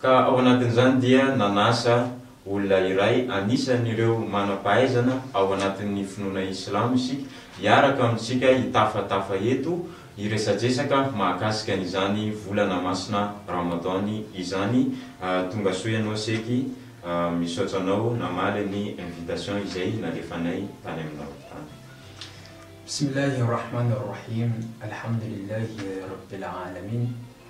Ka ao anatin'izany dia nanasa olona iray anisan'ireo manam-pahaizana ao anatin'ny finoana islamo isika hiaraka amintsika hitafatafa eto hiresadresaka mahakasika an'izany volana masina Ramadan izany tongasoa ianao seky misaotra anao namaly ny invitation izay nalefanay tany aminao tany. Bismillah Ar-Rahman Ar-Rahim Alhamdulillah Rabbil Alamin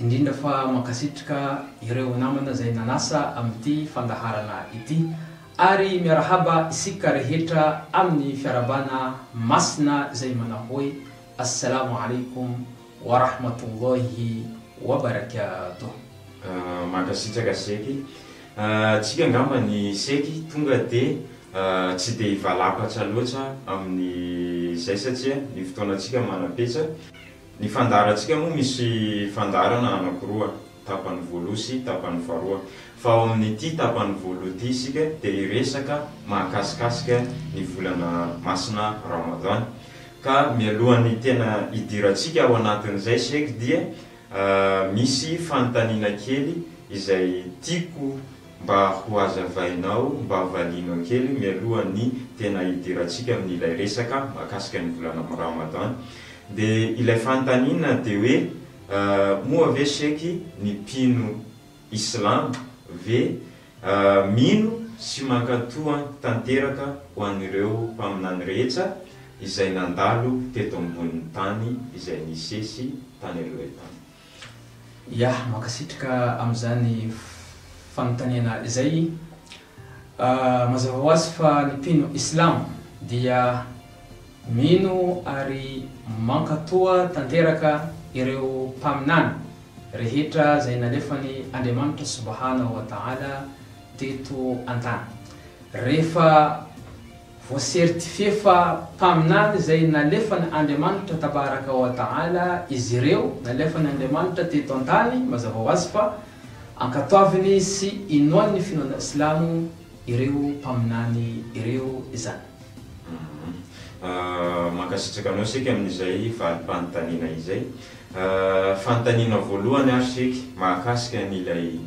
indrindra fa mankasitrka ireo namana izay nanasa amin'ity fandaharana ity ary miarahaba isika rehetra amin'ny fiarahabana masina izay manao hoe Assalamo Alaikum wa Rahmatullahi wa Barakatuh. Mankasitraka Seky ah, tsika angamba ny Seky tonga dia tsy dia hivalampatra loatra amin'izay satria ny fotoanantsika manam-petsa. Ny fandaharantsika moa misy fandaharana anankiroa, tapany voaloha sy tapany faharoa. Fa ao amin'ity tapany voaloha ity isika dia hiresaka mahakasikasika ny volana masina Ramadan. Ka mialohan'ny tena hidirantsika ao anatin'izay Sheikh dia misy fanontaniana kely izay tiako Mba ho hazavainao, mba valianao kely mialoha ny tena hidirantsika amin'ilay resaka mahakasika ny volana Ramadan. Dia ilay fanontaniana dia hoe moa ve sheky ny mpino islam ve mino sy mankato tanteraka ho an'ireo mpaminany rehetsa izay nandalo teto ambonin'ny tany izay nisesy tany aloha tany? Ya, mankasitraka amin'izany fanontaniana izay. Mazava ho azy fa ny mpino islamo dia mino ary mankatoa tanteraka ireo mpaminany rehetra izay nalefany Andriamanitra Subhanahu wa Ta'ala teto an-tany. Rehefa. Voasertifie fa mpaminany izay nalefan'ny Andriamanitra Tabaraka wa Ta'ala izy ireo, nalefan'ny Andriamanitra teto an-tany, mazava ho azy fa ankatoaviny sy inoan'ny finoana silamo ireo mpaminany ireo izany. Mankasitraka anao Sheikh amin'izay valim-panontaniana izay. Fanontaniana voalohany ary Sheikh mahakasika an'ilay.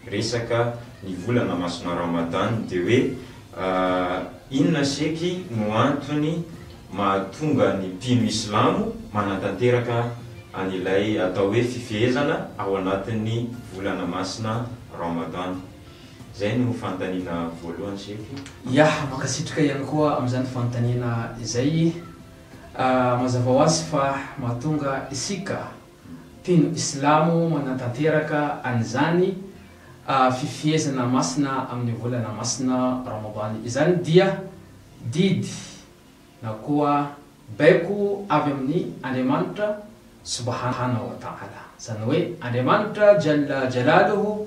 resaka ny volana masina Ramadan dia hoe inona seky no antony mahatonga ny mpino islamo manatanteraka an'ilay atao hoe fifehezana ao anatin'ny volana masina Ramadan? Izay no fanontaniana voalohany seky. Ya, mankasitraka ihany koa amin'izany fanontaniana izay. Mazava ho azy fa mahatonga isika Mpino Islamo manatanteraka an'izany fifehezana masina amin'ny volana masina Ramadan izany dia didy na koa baiko avy amin'ny Andriamanitra Subhana wa Ta'ala, izany hoe Andriamanitra Jalla Jalaluhu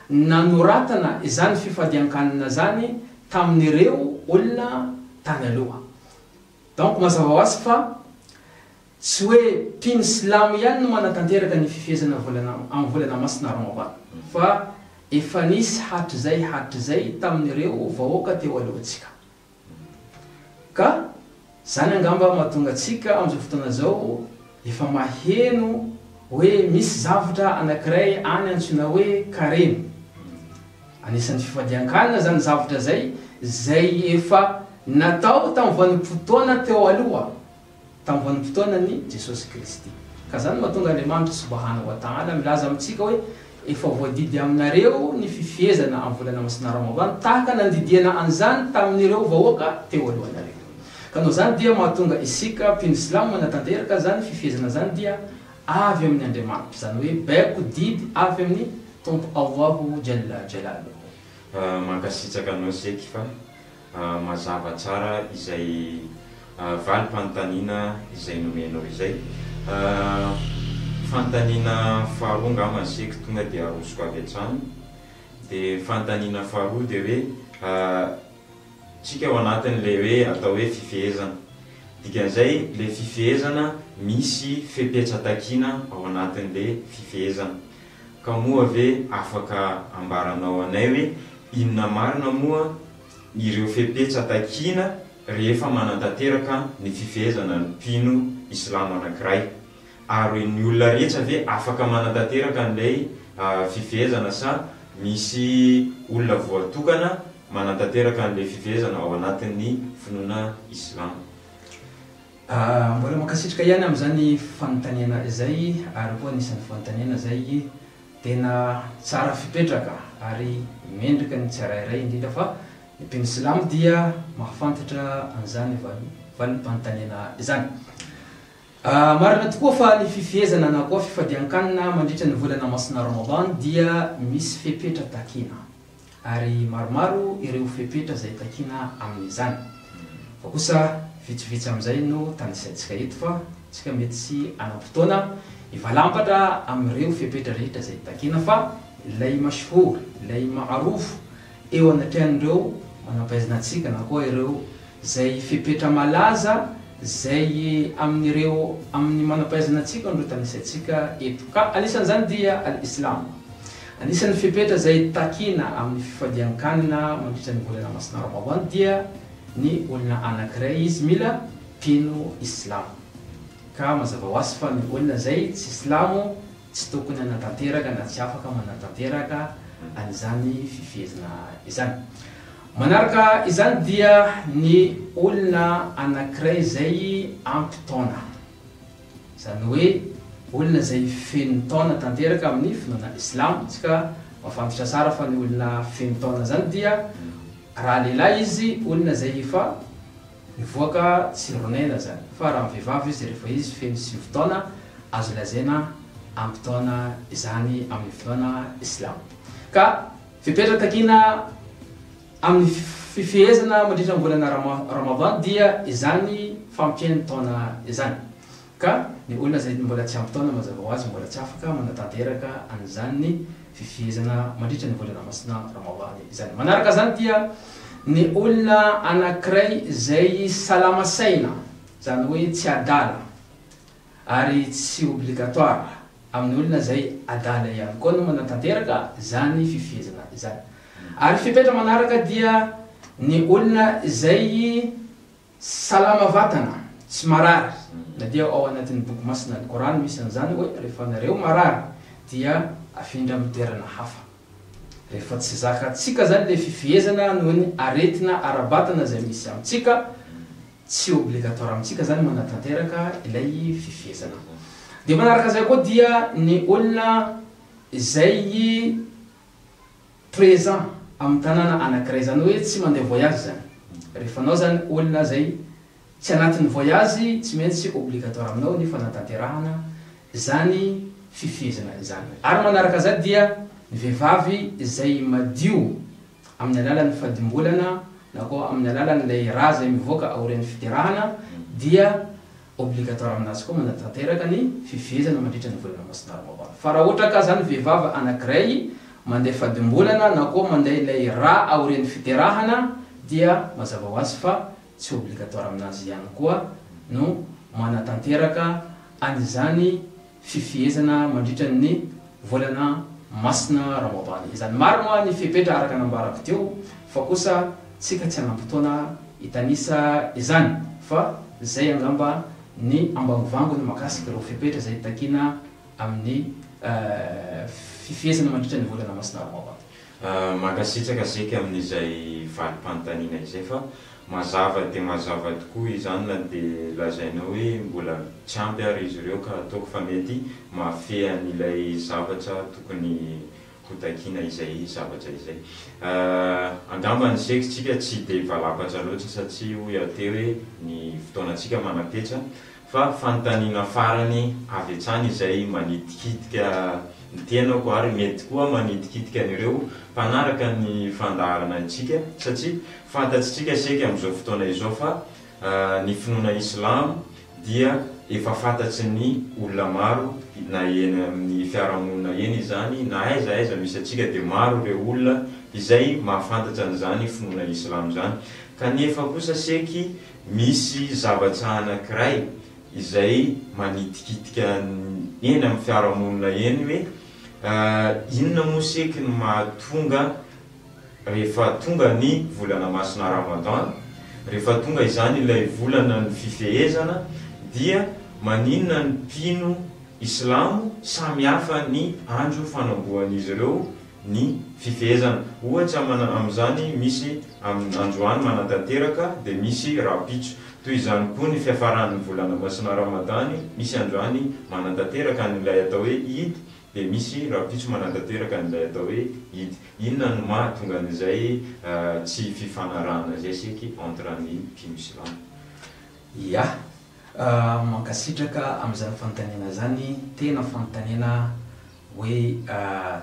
nanoratana izany fifadian-kanina izany tamin'ireo olona tany aloha. Donc mazava ho azy fa tsy hoe mpino silamo ihany no manatanteraka ny fifehezana volana amin'ny volana masina Ramadan fa efa nisy hatrizay hatrizay tamin'ireo vahoaka teo alohantsika. Ka zany angamba mahatonga antsika amin'izao fotoana izao efa maheno hoe misy zavtra anakiray any antsoina hoe karemy. Anisan'ny fifadian-kanina zany zavtra zay, zay efa natao tamin'ny vanim-potoana teo aloha. Tamin'ny vanim-potoanan'i Jesosy Kristy. Ka izany no mahatonga Andriamanitra Subhanahu wa Ta'ala milaza amintsika hoe, Efa voadidy aminareo ny fifehezana amin'ny volana masina Ramadan tahaka nandidiana an'izany tamin'ireo vahoaka teo alohanareo. Ka noho izany dia mahatonga isika mpino silamo manatanteraka an'izany fifehezana izany dia avy amin'ny Andriamanitra, izany hoe baiko didy avy amin'ny Tompo Allahu Jalla Jalaluhu. Mankasitraka anao Seky fa. mazava tsara izay valim-panontaniana izay nomenao izay. Fanontaniana faharoa angamba ny sec tonga dia arosoko avy hatrany. Dia ny fanontaniana faharoa dia hoe tsika ao anatin'ilay hoe atao hoe fifehezana. Dikan'izay ilay fifehezana misy fepetra takiana ao anatin'ilay fifehezana. Ka moa ve afaka ambaranao anay hoe inona marina moa ireo fepetra takiana rehefa manantanteraka ny fifehezana ny mpino islamo anankiray? Ary ny olona rehetra ve afaka manantanteraka an'ilay fifehezana sa misy olona voatokana manantanteraka an'ilay fifehezana ao anatin'ny finoana islamo? Mbola mankasitraka ihany amin'izany fanontaniana izay ary koa anisan'ny fanontaniana izay tena tsara fipetraka ary mendrika ny tsirairay indrindra fa ny mpino silamo dia mahafantatra an'izany valim-panontaniana izany. Marina tokoa fa ny fifehezana na koa fifadian-kanina mandritra ny volana masina Ramadan dia misy fepetra takina. ary maromaro ireo fepetra izay takiana amin'izany. Fa kosa vitsivitsy amin'izay no tanisaintsika eto fa isika mety tsy hanam-potoana hivalampatra amin'ireo fepetra rehetra izay takiana fa ilay Mashhoor, ilay Ma'arouf eo anatrehan'ireo manam-pahaizana antsika na koa ireo izay fepetra malaza izay amin'ireo amin'ny manam-pahaizana antsika no tanisaintsika eto. Ka anisan'izany dia Al-Islam. Anisan'ny fepetra izay takiana amin'ny fifadian-kanina mandritra ny volana masina Ramadan dia ny olona anankiray izy mila mpino Islamo. Ka mazava ho azy fa ny olona izay tsy Silamo tsy tokony hanatanteraka na tsy afaka manatanteraka an'izany fifehezana izany. Manaraka izany dia ny olona anankiray izay ampy taona. Izany hoe olona izay feno taona tanteraka amin'ny finoana islam, isika mahafantatra tsara fa ny olona feno taona izany dia raha lehilahy izy olona izay efa nivoaka tsiron'aina izany, fa raha ny vehivavy izy rehefa izy feno sivy taona azo lazaina ampy taona izany amin'ny finoana islam. Ka fepetra takiana Amin'ny fifehezana mandritra ny volana Ramadan dia izany fampian'ny taona izany. Ka ny olona izay mbola tsy ampy taona mazava ho azy mbola tsy afaka manatanteraka an'izany fifehezana mandritra ny volana masina Ramadan izany. Manaraka izany dia ny olona anankiray izay salama saina, izany hoe tsy adala, Ary tsy obligatoire amin'ny olona izay adala ihany koa no manatanteraka izany fifehezana izany. Ary fepetra manaraka dia ny olona izay salama vatana, tsy marary, na dia ao anatin'ny boky masina Al-Korany misy an'izany hoe rehefa nareo marary dia afindra amin'ny toerana hafa. Rehefa tsy zakantsika izany ilay fifehezana noho ny aretina ara-batana izay misy amintsika, Tsy obligatoire amintsika zany manatanteraka ilay fifehezana. Dia manaraka izay koa dia ny olona izay présent amin'ny tanàna anankiray, izany hoe tsy mandeha voyage zany. Rehefa anao zany olona izay tsy anatin'ny voyage, tsy maintsy obligatoire aminao ny fanatanterahana izany fifehezana izany. Ary manaraka izay dia ny vehivavy izay madio. amin'ny alalan'ny fadimbolana na koa amin'ny alalan'ilay ra izay mivoaka aorian'ny fiderahana dia obligatoire aminazy koa manatanteraka ny fifehezana mandritra ny volana masina roa ambiny fa raha ohatra ka zany vehivavy anankiray mandeha fadimbolana na koa mandeha ilay ra aorian'ny fiderahana dia mazava ho azy fa tsy obligatoire aminazy ihany koa no manatanteraka an'izany fifehezana mandritra ny volana masina Ramadany izany. Marina ny fepetra araka nambarako teo fa kosa tsika tsy hanam-potoana hitanisa izany fa zay angamba ny ambangovango ny makasika ireo fepetra zay takiana amin'ny fifehezana mandritra ny volana masina Ramadany. Mankasitraka Zeky amin'izay valim-panontaniana izay fa mazava dia mazava tokoa izany na dia lazainao hoe mbola tsy ampy ary izy ireo ka ataoko fa mety mahafehy an'ilay zavatra tokony hotakiana izay zavatra izay. Angamba ny Zeky tsika tsy dia valapatra loatra satria hoy aho teo hoe ny fotoanantsika manam-petra Fa fanontaniana farany avy hatrany izay manitikitika ny tenako ary mety koa manitikitika an'ireo mpanaraka ny fandaharana antsika satria fantatsitsika saika amin'izao fotoana izao fa ny finoana Islam dia efa fantatry ny olona maro na eny amin'ny fiarahamonina eny izany na aiza aiza misy antsika dia maro ireo olona izay mahafantatra an'izany finoana Islam izany kanefa kosa seky Misy zavatra anankiray izay manitikitika eny amin'ny fiarahamonina eny hoe inona moa seky ny mahatonga rehefa tonga ny volana masina Ramadan, rehefa tonga izany ilay volana ny fifehezana dia maninona ny mpino islamo samy hafa ny andro fanambohan'izy ireo ny fifehezana. Ohatra amana amin'izany misy amin'ny androany manatanteraka dia misy rahampitso. Toy izany koa ny fiafaran'ny volana masina Ramadany, misy androany manatanteraka an'ilay atao hoe Eid dia misy rahampitso manatanteraka an'ilay atao hoe Eid. Inona no mahatonga an'izay tsy fifanarahana izay seky entre ny mpino silamo? Ia. Mankasitraka amin'izany fanontaniana izany, tena fanontaniana Hoe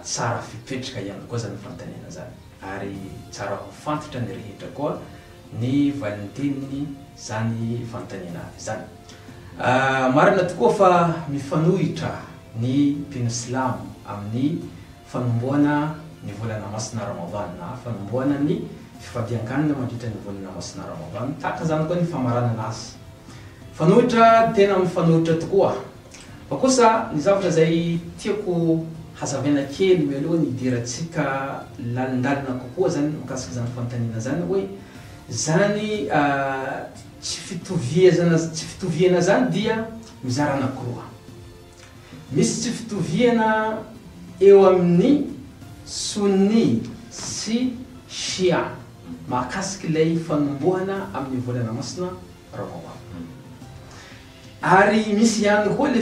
tsara fipetraka ihany koa izany fanontaniana izany ary tsara ho fantatry ny rehetra koa ny valintenin izany fanontaniana izany. Marina tokoa fa mifanohitra ny mpino silamo amin'ny fanomboana ny volana masina Ramadan na fanomboana ny fifadiankanina mandritra ny volana masina Ramadan, tahaka izany koa ny famaranana azy. Fanohitra tena mifanohitra tokoa Fa kosa ny zavatra izay tiako hazavaina kely mialoha ny hidirantsika lalindalina kokoa izany mikasika izany fanontaniana izany hoe izany tsy fitoviazana tsy fitoviana izany dia mizara anakiroa. Misy tsy fitoviana eo amin'ny Sunni sy Shia mahakasika ilay fanombohana amin'ny volana masina Ramadan. Ary misy ihany koa le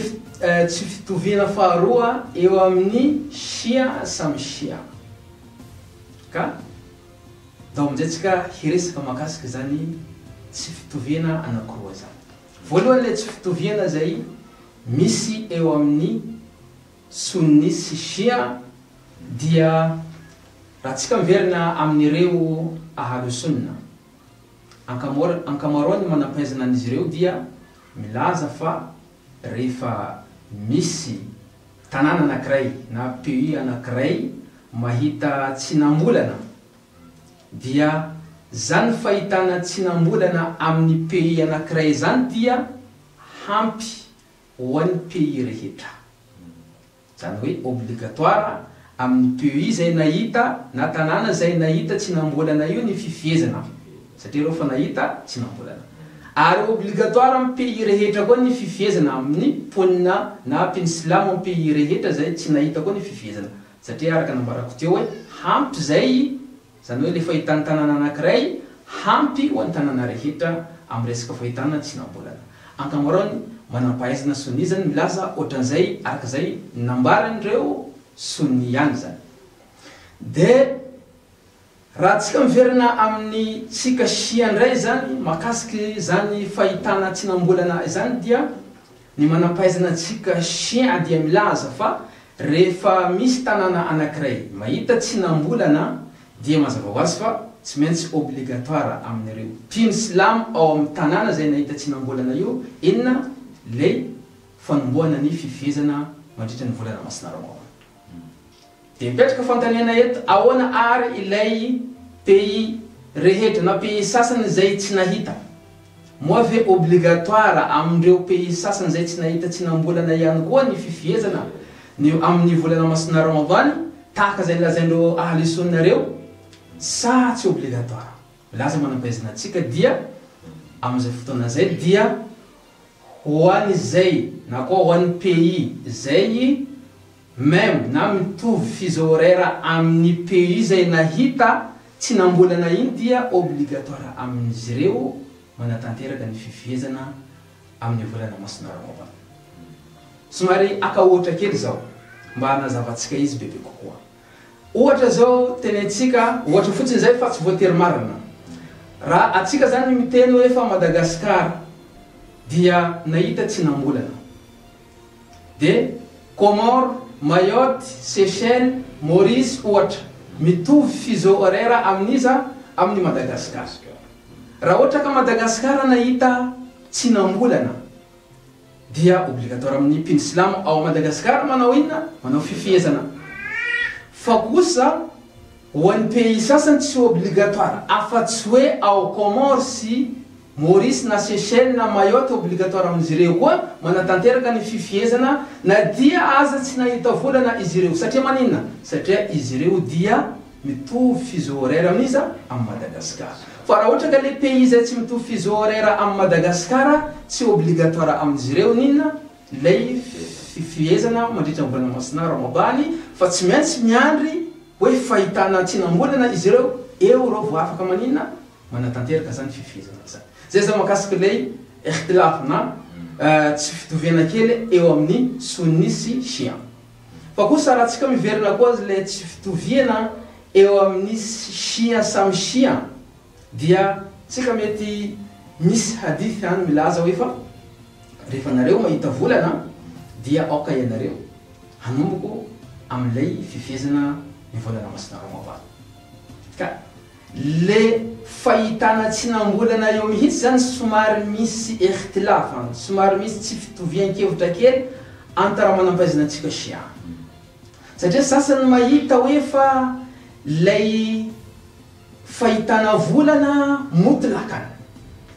tsy fitoviana faharoa eo amin'ny Shia samy Shia. Ka ndao amin'izay tsika hiresaka mahakasika izany tsy fitoviana anankiroa izany. Voalohany le tsy fitoviana izay misy eo amin'ny Sunni sy Shia dia raha tsika miverina amin'ireo Ahlu Sunna. Ankamaroan'ny manam-pahaizana an'izy ireo dia milaza fa rehefa misy tanàna anankiray na pays anankiray mahita tsinam-bolana dia izany fahitana tsinam-bolana amin'ny pays anankiray izany dia hampy ho an'ny pays rehetra. Izany hoe obligatoire amin'ny PEI izay nahita na tanàna izay nahita tsy nambolana io ny fifehezana satria ireo efa nahita tsy nambolana. Ary obligatoire amin'ny PEI rehetra koa ny fifehezana amin'ny mponina na mpino silamo amin'ny PEI rehetra izay tsy nahita koa ny fifehezana satria araka nambarako teo hoe hampy izay Izany hoe ilay fahitan'ny tanàna anankiray hampy ho an'ny tanàna rehetra amin'ny resaka fahitana tsy nambolana. Ankamaroan'ny manam-pahaizana sonia izany milaza ohatran'izay araka izay nambaran'ireo sonia ihany izany. Dia raha tsika miverina amin'ny tsika shia indray izany makasika izany fahitana tsy nambolana izany dia. Ny manam-pahaizana antsika chien dia milaza fa rehefa misy tanàna anankiray mahita tsinam-bolana dia mazava ho azy fa tsy maintsy obligatoire amin'ireo mpino silamo ao amin'ny tanàna izay nahita tsinam-bolana io inona ilay fanombohana ny fifehezana mandritra ny volana masina Ramadana. Dia mipetraka fanontaniana eto, ahoana àry ilay pays rehetra na pays sasany izay tsy nahita? Moa ve obligatoire amin'ireo pays sasany izay tsy nahita tsinam-bolana ihany koa ny fifehezana ny amin'ny volana masina Ramadan tahaka izay nolazain'ireo Ahli Sunna ireo sa tsy obligatoire? Milaza manam-pahaizana antsika dia amin'izay fotoana izay dia ho an'izay na koa ho an'ny pays izay Même na mitovy fuseau horaire amin'ny pays izay nahita tsy nambolana iny dia obligatoire amin'izy ireo manatanteraka ny fifehezana amin'ny volana masina Ramadan. Somary haka ohatra kely izao mba hanazavantsika izy bebe kokoa. Ohatra izao tenentsika, ohatra fotsiny izay fa tsy voatery marina. Raha antsika izany miteny hoe fa Madagascar dia nahita tsy nambolana. Dia Comores, Mayotte, Seychelles, Maurice ohatra, mitovy fuseau horaire amin'iza? Amin'i Madagascar. Raha ohatra ka Madagascar nahita tsinam-bolana dia obligatoire amin'ny mpino silamo ao Madagascar manao inona? Manao fifehezana. Fa kosa ho an'ny pays sasany tsy obligatoire afa-tsy hoe ao Comores sy. Maurice na Seychelles na Mayotte obligatoire amin'izy ireo koa manatanteraka ny fifihezana na dia aza tsy nahita volana izy ireo. Satria maninona? Satria izy ireo dia mitovy fuseau horaire amin'iza? Amin'i Madagasikara. Fa raha ohatra ka le pays izay tsy mitovy fuseau horaire amin'i Madagasikara tsy obligatoire amin'izy ireo ny inona? Ilay fifihezana mandritra ny volana Masina Ramabany fa tsy maintsy miandry hoe fahitana tsinam-bolana izy ireo eo ireo vao afaka maninona? manatanteraka zany fifehezana izany. Zay zany makasika lay ihtilaf na tsy fitoviana kely eo amin'ny Sunni sy Shia. Fa kosa raha tsika miverina koa azy lay tsy fitoviana eo amin'ny Shia samy Shia dia tsika mety misy hadith any milaza hoe fa rehefa nareo mahita volana dia aoka ianareo hanomboko amin'ilay fifehezana ny volana masina Ramadan. Ka. Le fahitana tsy nambolana eo mihitsy zany somary misy ekhtilaf an, somary misy tsy fitovian-kevitra kely anta raha manampaizina antsika shia. Satria sasany mahita hoe fa lay fahitana volana motlakan,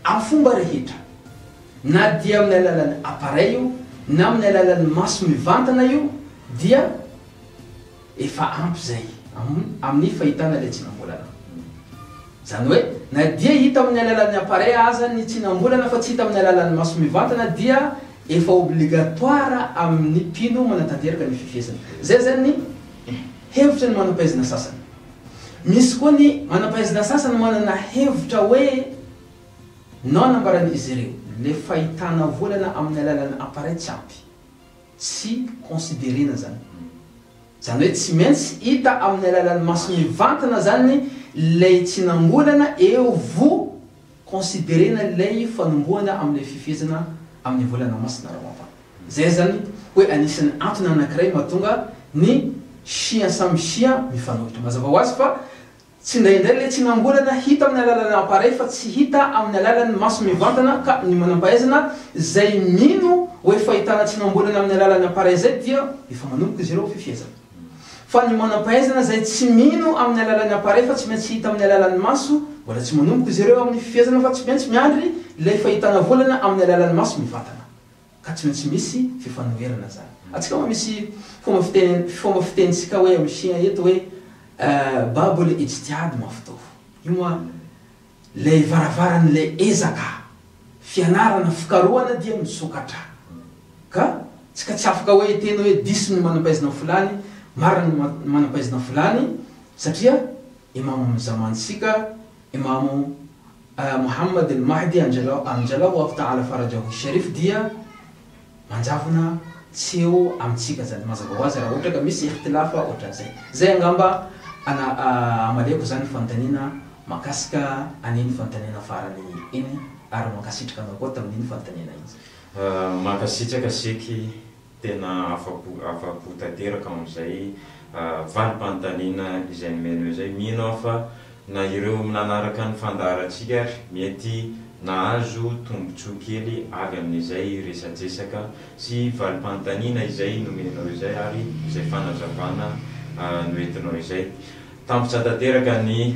am fomba rehetra, na dia amin'ny alalan'ny appareil io na amin'ny alalan'ny maso mivantana io dia. Efa ampy izay amin'ny fahitana ilay tsinam-bolana. Izany hoe, na dia hita amin'ny alalan'ny appareil aza ny tsinam-bolana fa tsy hita amin'ny alalan'ny maso mivantana dia efa obligatoire amin'ny mpino manatanteraka ny fifihezana. Izay izany ny hevitra ny manam-pahaizana sasany. Misy koa ny manam-pahaizana sasany manana hevitra hoe non nambaran'izy ireo, ilay fahitana volana amin'ny alalan'ny appareil tsy ampy. Tsy considerena zany. Zany hoe tsy maintsy hita amin'ny alalan'ny maso mivantana zany ilay tsinam-bolana eo vo considerena ilay fanombohana amin'ilay fifehezana amin'ny volana masina Ramadan. Zay zany hoe anisan'ny antony anankiray mahatonga ny shia samy shia mifanohitra. Mazava ho azy fa Tsindraindray ilay tsinam-bolana hita amin'ny alalan'ny appareil fa tsy hita amin'ny alalan'ny maso mivantana ka ny manam-pahaizana izay mino hoe fahitana tsinam-bolana amin'ny alalan'ny appareil izay dia efa manomboka izy ireo fifehezana. Fa ny manam-pahaizana izay tsy mino amin'ny alalan'ny appareil fa tsy maintsy hita amin'ny alalan'ny maso mbola tsy manomboka izy ireo amin'ny fifehezana fa tsy maintsy miandry ilay fahitana volana amin'ny alalan'ny maso mivantana. Ka tsy maintsy misy fifanoherana zany. Atsika moa misy fomba fiteny fomba fiteny tsika hoe am Shina eto hoe Baboly ijtihad maftoh. Io moa lay varavaran lay ezaka, fianarana, fikarohana dia misokatra. Ka tsika tsy afaka hoe hiteny hoe diso ny manampaizina am fulany, marina ny manampaizina fulany satria imam am zaman tsika Imamo Mohammad al-Mahdi Anjallahu Anjallahu Allahu Ta'ala Farajahu Sharif dia manjavona tsy eo amintsika zany mazava ho azy raha ohatra ka misy ikhtilaf ohatran'izay. Zay angamba ana amaliako zany fanontaniana makasika an'iny fanontaniana farany iny ary mankasitraka anao koa tamin'iny fanontaniana iny. Mankasitraka Sheikh. Tena afapo afapo tanteraka amin'izay valim-panontaniana izay nomenao izay. Mino aho fa na ireo nanaraka ny fandaharantsika ary mety nahazo tombontsoa kely avy amin'izay resadresaka sy valim-panontaniana izay nomenao izay ary izay fanazavana noentinao izay. Tampitra tanteraka ny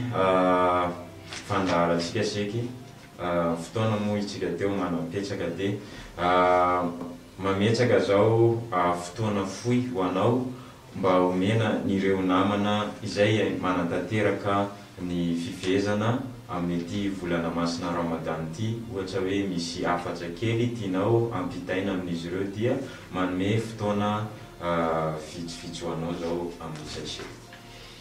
fandaharantsika seky fotoana moa isika teo manampetsaka dia. Mametraka zao fotoana fohy ho anao mba omena nireo namana izay manatanteraka ny fivezana amin'ity volana masina Ramadan ity ohatra hoe misy hafatra kely tianao hampitaina amin'izy ireo dia manome fotoana vitsivitsy ho anao zao amin'ny sachet.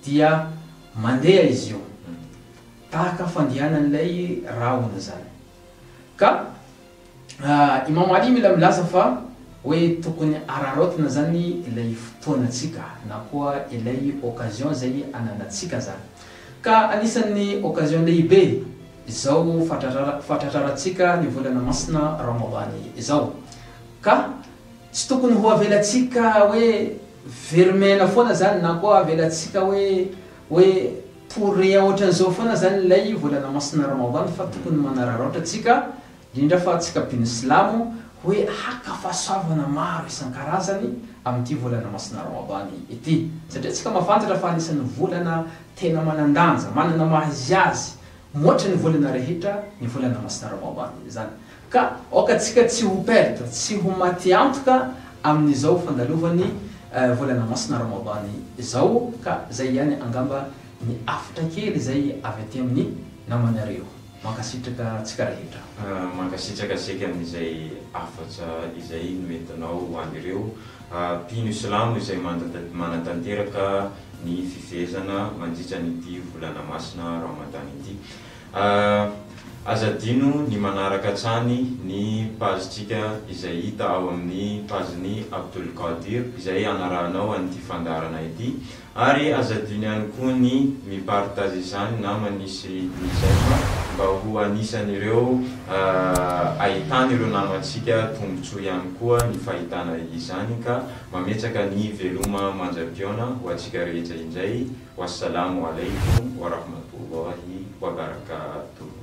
Dia mandeha izy io, tahaka fandehanan'ilay rahona izany. Ka Imam 'Ali mila milaza fa hoe tokony araraotina izany ilay fotoanantsika na koa ilay occasion izay ananantsika izany. Ka anisan'ny occasion lehibe izao fahatratrarantsika ny volana masina Ramadany izao. Ka tsy tokony ho avelantsika hoe. Very miaina foana zany na koa avelatsika hoe hoe pourria ohatran'izao foana zany ilay volana masina Ramadan fa tokony manararaotra tsika indrindra fa tsika mpino silamo hoe haka fahasoavana maro isan-karazany amin'ity volana masina Ramadan ity satria tsika mahafantatra fa anisan'ny volana tena manan-danja manana maha izy azy mihoatra ny volana rehetra ny volana masina Ramadan izany Ka aoka tsika tsy ho perdre, tsy ho maty antoka amin'izao fandalovan'ny volana masina Ramadan izao ka zay ihany angamba ny hafatra kely izay avy aty amin'ny namanareo. Mankasitraka tsika rehetra. Mankasitraka seka amin'izay hafatra izay noentinao ho an'ireo mpino silamo izay manatanteraka ny fifehezana mandritra an'ity volana masina Ramadan ity. Ah, aza adino ny manaraka hatrany ny page tsika izay hita ao amin'ny page ny Abdulkadir izay anarahanao an'ity fandaharana ity ary aza adino ihany koa ny mi partage izany na manisy ny j'aime mba ho anisan'ireo ah, ahitan'ireo namantsika tombotsoa ihany koa ny fahitana izany ka mametsaka ny veloma mandrapihaona ho antsika rehetra indray. Wassalamu alaikum warahmatullahi wabarakatuh.